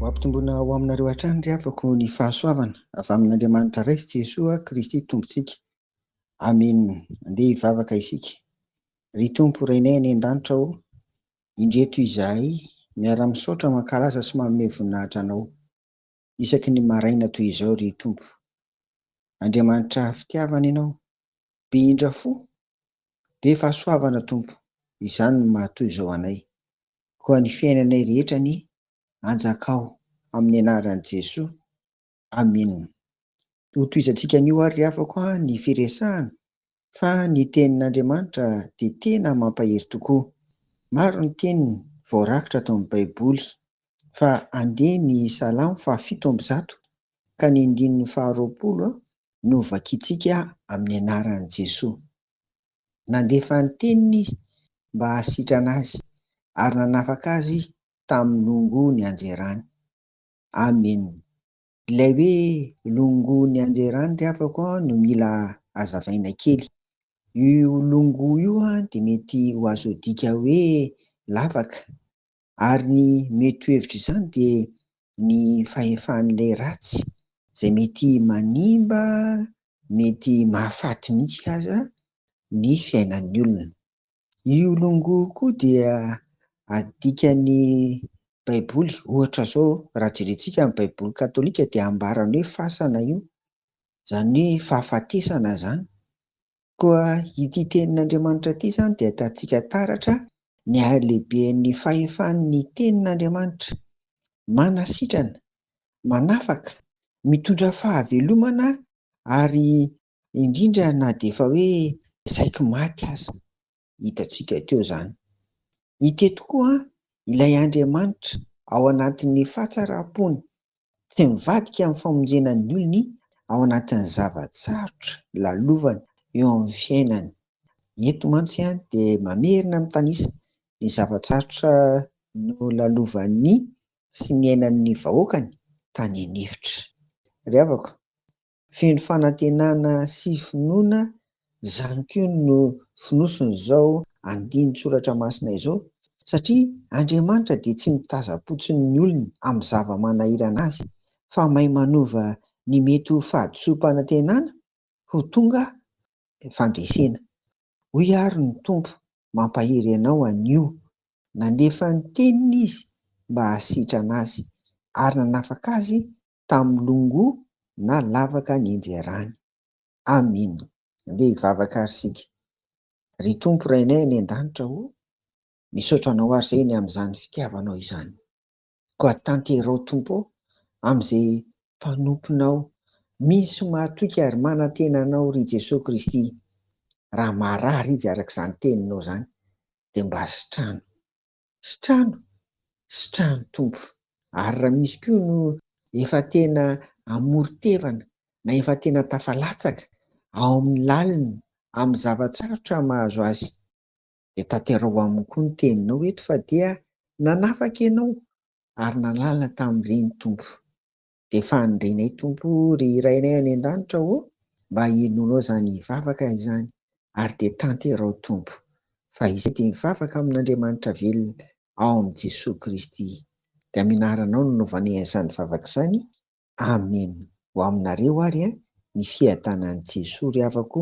Ho ampitomboina ho aminareo hatrany ry havako ny fahasoavana avy amin'Andriamanitra Ray sy Jesoa Kristy Tompontsika. Amen. Andeha hivavaka isika. Ry Tompo Rainay any an-danitra ô, indreto izahay miara-misaotra, mankalaza sy manome voninahitra Anao. isaky ny maraina toy izao ry Tompo. Andriamanitra fitiavana Ianao, be indra fo, be fahasoavana Tompo, izany no maha toy izao anay. Koa ny fiainanay rehetra anie anjakao amin'ny anaran'i Jesoa. Amena. Hotohizantsika anio ary ry havako a ny firesahana fa ny tenin'Andriamanitra dia tena mampahery tokoa. Maro ny teniny voarakitra ato amin'ny Baiboly fa andeha ny Salamo fahafito amby zato ka ny andininy faharoapolo no vakintsika amin'ny anaran'i Jesoa. Nandefa ny teniny izy mba hahasitrana azy ary nanafaka azy tamin'ny longon'ny hanjerany. Amena. Ilay hoe longo ny anjerany ry havako no mila azavaina kely. Io longo io dia mety ho azo adika hoe lavaka. Ary ny mety ho hevitra izany dia ny fahefan'ilay ratsy izay mety manimba, mety mahafaty mihitsy aza ny fiainan'ny olona. Io longo koa dia adika ny baiboly ohatra zao raha jerentsika ny baiboly katolika dia ambarany hoe fasana io zany hoe fahafatesana zany koa ity tenin'andriamanitra ity zany dia atatsika taratra ny halehiben'ny fahefan'ny tenin'andriamanitra manasitrana manafaka mitondra fahavelomana ary indrindra na dia efa hoe saiky maty aza, hitantsika teo izany. Ity tokoa ilay Andriamanitra ao anatin'ny fahatsaram-pony, tsy mivadika amin'ny famonjena ny olony ao anatin'ny zava-tsarotra lalovany eo amin'ny fiainany. Eto mantsy dia mamerina mitanisa ny zava-tsarotra nolalovan'ny sy niainan'ny vahoakany tany an'efitra. Ry havako, Feno fanantenana sy finoana izany koa no fonosin'izao andinin-tsoratra masina izao, satria Andriamanitra dia tsy mitazam-potsiny ny olony amin'ny zava-manahirana azy, fa mahay manova ny mety ho fahadisoam-panantenana ho tonga fandresena. Hoy àry ny Tompo, Mampahery anao anio. Nandefa ny Teniny Izy mba hahasitrana azy, ary nanafaka azy tamin'ny longo na lavaka nianjerany. Amin. Andeha hivavaka ary isika. Ry Tompo Rainay any An-danitra o, misaotra Anao ary Zeny amin'izany fitiavanao izany. Koa tanterao Tompo o, amin'izay mpanomponao misy mahatoky ary manantena Anao ry Jesoa Kristy. Raha marary izy arak'izany teninao izany dia mba sitrano. sy trano sy trano tompo. Ary raha misy koa no efa tena amoron-tevana na efa tena tafalatsaka ao amin'ny lalina amin'ny zava-tsarotra mahazo azy dia tanteraho aminy koa ny teninao eto fa dia nanafaka ianao ary nanala tamin'ireny tompo. Dia fandrinay Tompo ry Rainay any an-danitra ô mba hinoanao izany vavaka izany ary dia tanterao Tompo fa izay dia mivavaka amin'Andriamanitra velona ao amin'i Jesoa Kristy dia amin'ny anaranao no novanay an'izany vavaka izany Amen ho aminareo ary ny fiadanan'i Jesoa ry havako